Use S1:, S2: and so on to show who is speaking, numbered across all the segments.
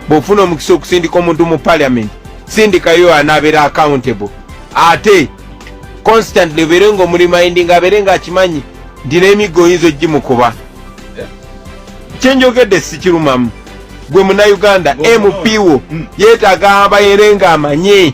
S1: bwofuna omukisa okusindika omuntu mu parliament sindikayo anabeera accountable ate constantly obeere nga omulimaindi nga abeere nga akimanyi nti n'emiggo oyinza ogimukuba kyenjogedde sikirumamu gwe munauganda mp wo mm. yetaaga abayere nga amanyi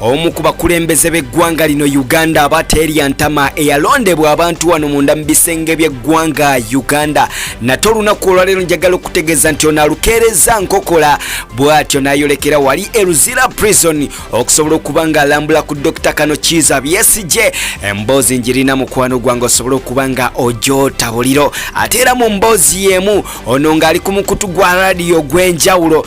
S2: omu ku bakulembeze b'eggwanga lino uganda aba teria ntama eyalondebwa abantu wano munda mu bisenge by'eggwanga uganda nate olunaku olwaleero njagala okutegeeza nti ono alukeereza nkokola bw'atyo n'ayolekera wali eluzira prison okusobola okuba nga alambula ku dr kano kiiza byesije emboozi njirina mukwano gwange osobole okuba nga ojotabuliro ate era mu mboozi y'emu ono ng'ali ku mukutu gwa radiyo gw'enjawulo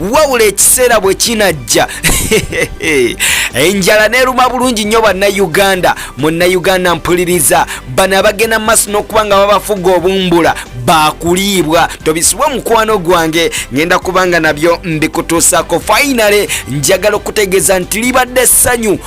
S2: wawula ekiseera bwe kinajja enjala neruma bulungi nnyo bannayuganda munnayuganda mpuliriza bano abagenda mu maaso n'okuba nga babafuga obumbula bakuliibwa tobisibwa omukwano gwange ngenda kubanga nabyo mbikutuusako fainale njagala okutegeeza nti libadde essanyu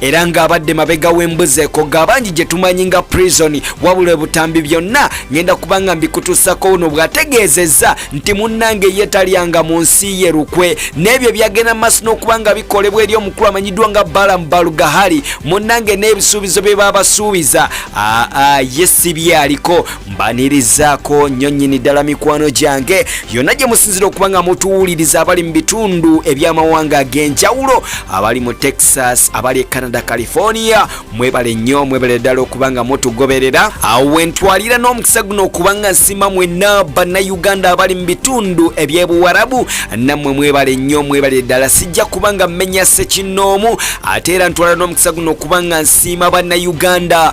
S2: era ng'abadde mabega w'embuzi ekoga abangi gye tumanyi nga prison wabula ebutambi byonna ngenda kuba nga mbikutuusako wuno bw'ategeezezza nti munnange ye talyanga mu nsi ye lukwe n'ebyo ebyagenda maaso n'okuba nga bikolebwa eri omukulu amanyiddwa nga balamu balugahali munnange n'ebisuubizo bye baabasuubiza aa ye si byaliko mbanirizaako nnyo nnyini ddala mikwano gyange yonna gye musinzira okuba nga mutuwuliriza abali mu bitundu eby'amawanga ag'enjawulo abali mu texas abali e canada california mwebale nnyo mwebale ddala okuba nga mutugoberera awo wentwalira n'omukisa guno okuba nga nsima mwenna bannayuganda abali mu bitundu eby'ebuwarabu nammwe mwebale nnyo mwebale ddala sijja kuba nga mmenya sekinnoomu ate era ntwala n'omukisa guno okuba nga nsiima bannayuganda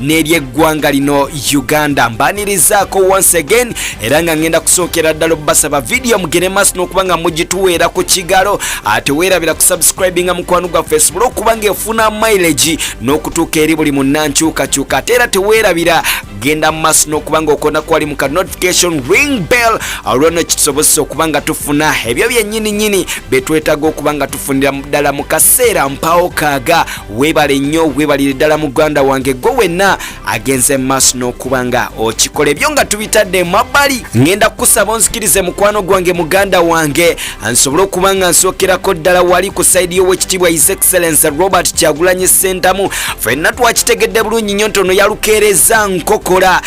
S2: n'eryeggwanga lino uganda mbanirizaako once again era nga ngenda kusookera ddala obbasaba vidiyo mugere maaso n'okuba nga mugituweera ku kigalo ate weerabira ku subscribing nga mukwano gwaffe esobole okuba nga efuna mileage n'okutuuka eri buli munnankyukakyuka ate era teweerabira genda mu maaso n'okuba nga okona kwali mu ka notification ring bell olwono kitusobozesa okuba nga tufuna ebyo byennyini nyini betwetaaga okuba nga tufunira ddala mu kaseera mpawo kaaga webale nnyo webalire ddala muganda wange gwe wenna agenze maaso n'okuba nga okikola ebyo nga tubitadde mabbali ngenda kukusaba onzikirize mukwano gwange muganda wange nsobole okuba nga nsookerako ddala wali ku saidi y'owekitiibwa his excellence robert kyagulanyi sentamu fenna twakitegedde bulungi nnyo ntono yalukeereza nkokola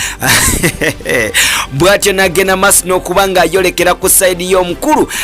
S2: bw'atyo nagenda maaso n'okuba nga ayolekera ku saidi y'omukulu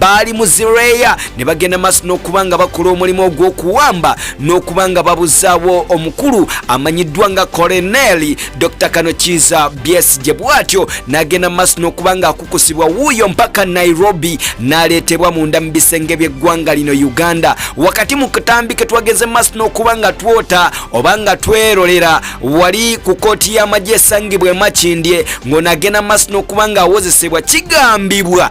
S2: baali mu zireeya ne bagenda maaso n'okuba nga bakola omulimu ogw'okuwamba n'okuba nga babuzaawo omukulu amanyiddwa nga koleneeli dr kano kiiza byesije bwatyo n'agenda maaso n'okuba nga akukusibwa wuuyo mpaka nairobi n'aleetebwa munda mu bisenge by'eggwanga lino uganda wakati mu katambi ke twageze maaso n'okuba nga twota oba nga twerolera wali ku kooti y'amagye esangibwa emakindye ng'ono agenda maaso n'okuba nga awozesebwa kigambibwa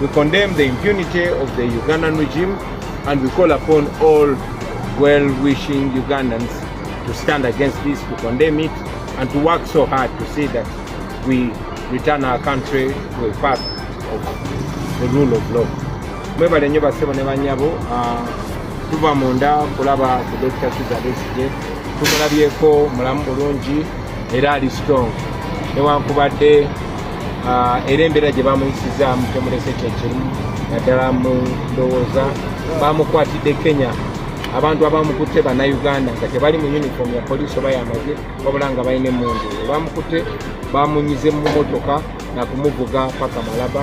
S1: We condemn the impunity of the Ugandan regime and we call upon all well-wishing Ugandans to stand against this, to condemn it, and to work so hard to see that we return our country to a path of the rule of law. Mwebale nyo basebo ne banyabo ah, tuva munda kulaba ku Dr. Kizza Besigye tumulabyeko mulamu bulungi era ali strong newankubadde Ah, era embeera gye bamuyisizaamu temulese kyekimu naddala mu ndowooza bamukwatidde kenya abantu abamukutte bannayuganda nga tebali mu uniform ya poliisi oba yamagye wabula nga balina emundu ebamukutte bamunyize mu motoka nakumuvuga paka malaba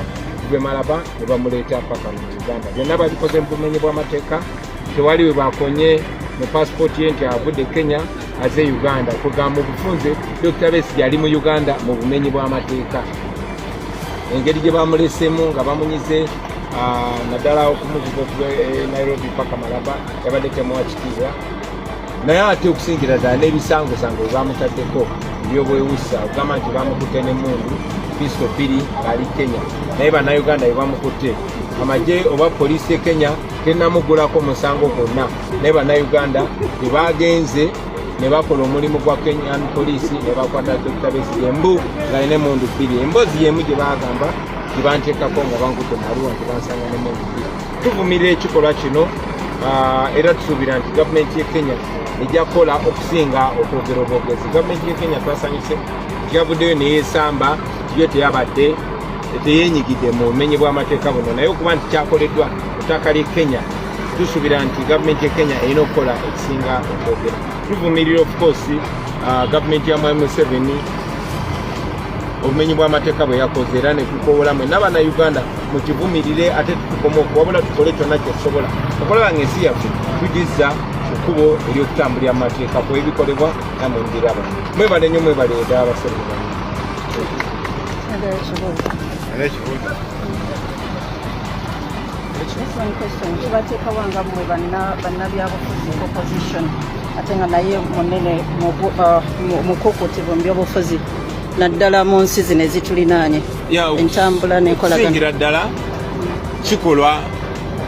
S1: gwe malaba ne bamuleeta paka mu uganda byonna babikoze mu bumenyi bw'amateeka tewali we bakonye mu pasipooti ye nti avudde kenya aze uganda kugamba obufunze dokita besigye ali mu uganda mu bumenyi bw'amateeka engeri gye bamulesemu nga bamunyize ah, naddala okumuvuga okuva e nairobi paka malaba yabadde temuwa kitiibwa naye ate okusingira ddala n'ebisangosango bwebamutaddeko ebyobwewusa okugamba nti bamukutte nemundu pisto bbiri ali kenya naye bannayuganda bwebamukutte amagye oba poliisi e kenya tenamugulako musango gwonna naye bannayuganda bye baagenze ne bakola omulimu gwa kenyan poliisi ne bakwata dokita besigye mbu ng'alina emundu bbiri emboozi y'emu gye baagamba gye banteekako nga bankudde maluwa nti bansanga n'emundu bbiri tuvumirira ekikolwa kino ah, era tusuubira nti gavumenti ye kenya ejja kukola okusinga okwogera obwogezi gavumenti ye kenya twasanyuse yavuddeyo neyesamba yo teyabadde teyenyigidde mu bumenyi bw'amateeka buno naye okuba nti kyakoleddwa ku ttaka ly'e kenya tusuubira nti gavumenti ya kenya erina okukola ekisinga okwogera tuvumirira ofukoosi uh, gavumenti ya mwami museveni obumenyi bw'amateeka bwe yakoze era ne tukowolamu nabana uganda mukivumirire ate tutukoma okuwabula tukole kyonna kyetusobola okulaba nga ensi yaffe tugizza ekkubo ery'okutambulira mu mateeka ku ebikolebwa namwe mbiraba mwebale nnyo mwebale eda abaserebe bano Era ekibuuzo.
S3: Excellent question. Kibateeka wanga mwe bannabyabufuzi opposition ate nga naye munene mukukuti uh, mu byobufuzi naddala mu nsi zino ezitulinaanye entambula nenkolaganira ddala
S1: kikolwa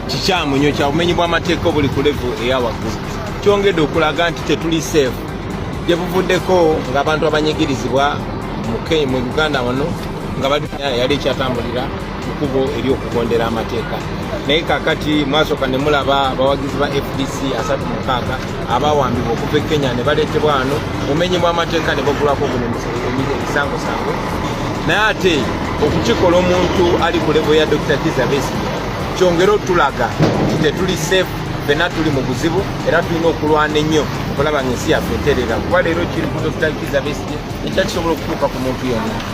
S1: kikyamu nyo kya bumenyi bw'amateeka obuli ku levu eya waggulu kyongedde okulaga nti tetuli seefu gye buvuddeko ng'abantu abanyigirizibwa mu uganda wano nga bali yali ekyatambulira kubo eri okugondera amateeka naye kakati mwasooka ne mulaba abawagizi ba fdc asatu mukaaga abawambibwa okuva e kenya ne baleetebwa wano mumenyi mwamateeka ne bagulwako guno ebisangosango naye ate okukikola omuntu ali ku levo ya dr kiza besi kyongere otulaga nti tetuli safe fena tuli mu buzibu era tulina okulwana ennyo okulaba nga ensi yaffe eterera kuba leero kiri ku dr kiza besi ekyakisobola okutuuka ku muntu yonna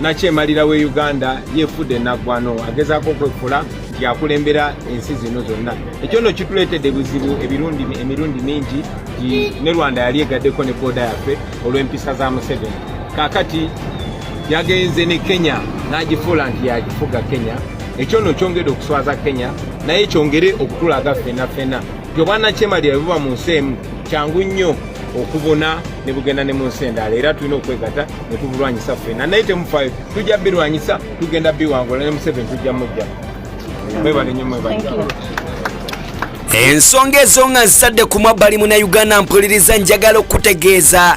S1: nakyemalira we uganda yefudde naggwano agezaako okwefula nti akulembera ensi zino zonna ekyo no kituleetedde buzibu emirundi mingi ne rwanda yali egaddeko ne booda yaffe olw'empisa za museveni kakati yagenze ne kenya n'agifuula nti yagifuga kenya ekyo no kyongedde okuswaza kenya naye kyongere okutulaga fena fena Gye obwannakyemalira bwe buba mu nsi emu kyangu nnyo okubuna ne bugenda ne mu nsi endala era tulina okwegata ne tubulwanyisa ffena naye temufaayo tujja birwanyisa tugenda biwangula ne museveni tujja mujja mwebale nnyo mwebale
S2: ensonga ezo nga nzitadde ku mwabbali muna uganda mpuliriza njagala okutegeeza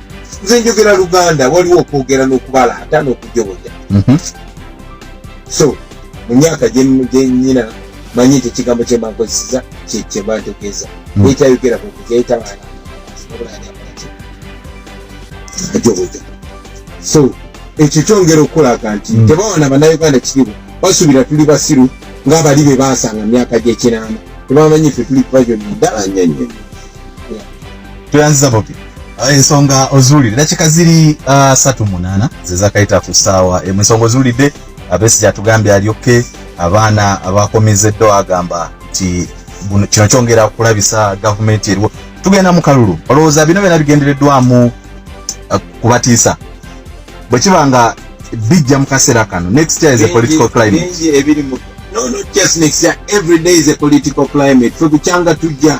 S1: nze njogera luganda waliwo okwogera n'okubala ata n'okujoboja mhm. so mu myaka gyenyina manyi ekyo ekigambo kyemankozeseza kyebantegeeza mhm. ekyayogera kujoboja so ekyo kyongera okukulaga nti mhm. tebawana banauganda kiriwo basubira tuli basiru ng'abali be baasanga myaka gy'ekinaana tebamanyi fe tuli pajoni ddala nyonyo
S4: tuyanziza bobi ah, ensonga ozuulidde dakika ziri ah, satu munana zezakayita ku saawa emu ensonga ozuulidde abesi gyatugambye alyokke abaana abakomezeddwa agamba nti kino kyongera kulabisa gavumenti eriwo tugenda mu kalulu olowooza bino byona bigendereddwamu ah, kubatiisa bwe kiba nga bijja mu kaseera kano next year is a political climate no not just
S1: next year every day is a political climate fe bukyanga tujja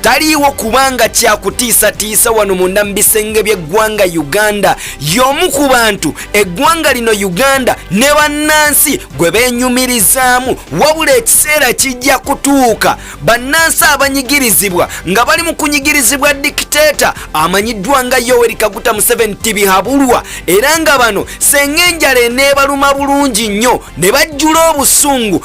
S2: taliiwo kubanga kyakutiisatiisa wano munda mu bisenge by'eggwanga uganda y'omu ku bantu eggwanga lino uganda ne bannansi gwe beenyumirizaamu wabula ekiseera kijja kutuuka bannansi abanyigirizibwa nga bali mu kunyigirizibwa dikiteeta amanyiddwa nga yoweri kaguta museveni tibihabulwa era nga bano senga enjala eneebaluma bulungi nnyo ne bajjula obusungu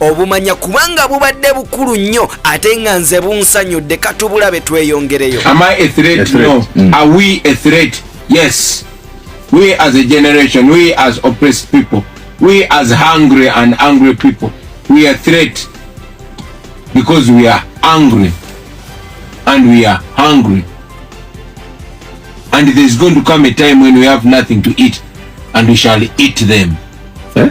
S2: obumanya kubanga bubadde bukulu nnyo ate nga nze bunsanyudde katubulabe tweyongereyo
S1: yes we as a generation we as oppressed people we as hungry and angry people we are threat because we are angry and we are hungry and there is going to come a time when we have nothing to eat and we shall eat them eh?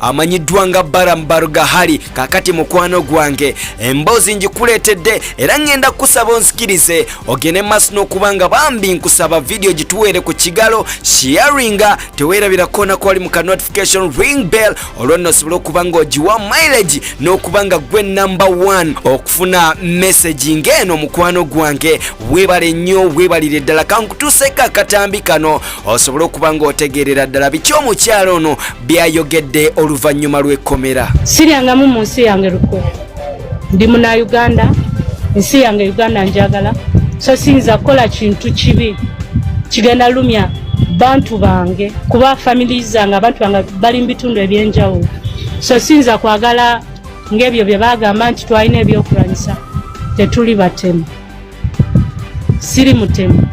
S2: amanyiddwa nga Baram Barugahari kakati mukwano gwange emboozi njikuleetedde era ngenda kusaba onsikirize ogende maaso n'okuba nga bambi nkusaba vidiyo gituweere ku kigalo shiyaringa teweerabira koona kwali mu ka notification ring bell olwo nno osobole okuba nga ogiwa mileage n'okuba nga gwe number one okufuna messagi ng'eno mukwano gwange weebale nnyo weebalire ddala kankutuuseeko akatambi kano osobole okuba nga otegeerera ddala biki omukyalo ono byayogedde oluvannyuma lw'ekkomera siryangamu mu nsi
S5: yange lukwe ndi muna uganda ensi yange uganda njagala so siyinza kukola kintu kibi kigenda lumya bantu bange kuba famili zange abantu bange bali mu bitundu ebyenjawulo so siyinza kwagala ng'ebyo bye bagamba nti twalina ebyokulwanyisa tetuli batemu siri mutemu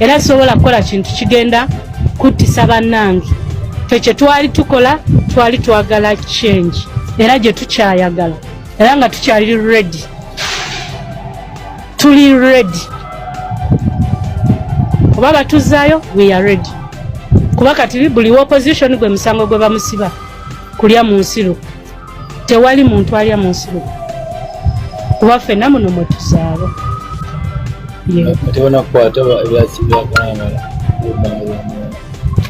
S5: era sisobola kukola kintu kigenda kuttisa bannange fe kye twali tukola twali twagala change era gye tukyayagala era nga tukyali redi tuli redi oba batuzaayo we are redi kuba kati buli opposition gwe musango gwe bamusiba kulya mu nsiru tewali muntu alya mu nsi lumu kuba ffenna muno mwe tuzaala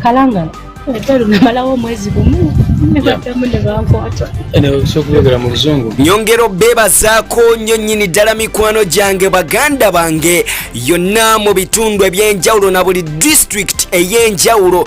S5: kalangala namalawo omwezi gumu nebaddamu nebankwata nyongera
S2: obeebazaako nnyo nnyini ddala mikwano gyange baganda bange yonna mu bitundu eby'enjawulo na buli disitulikiti ey'enjawulo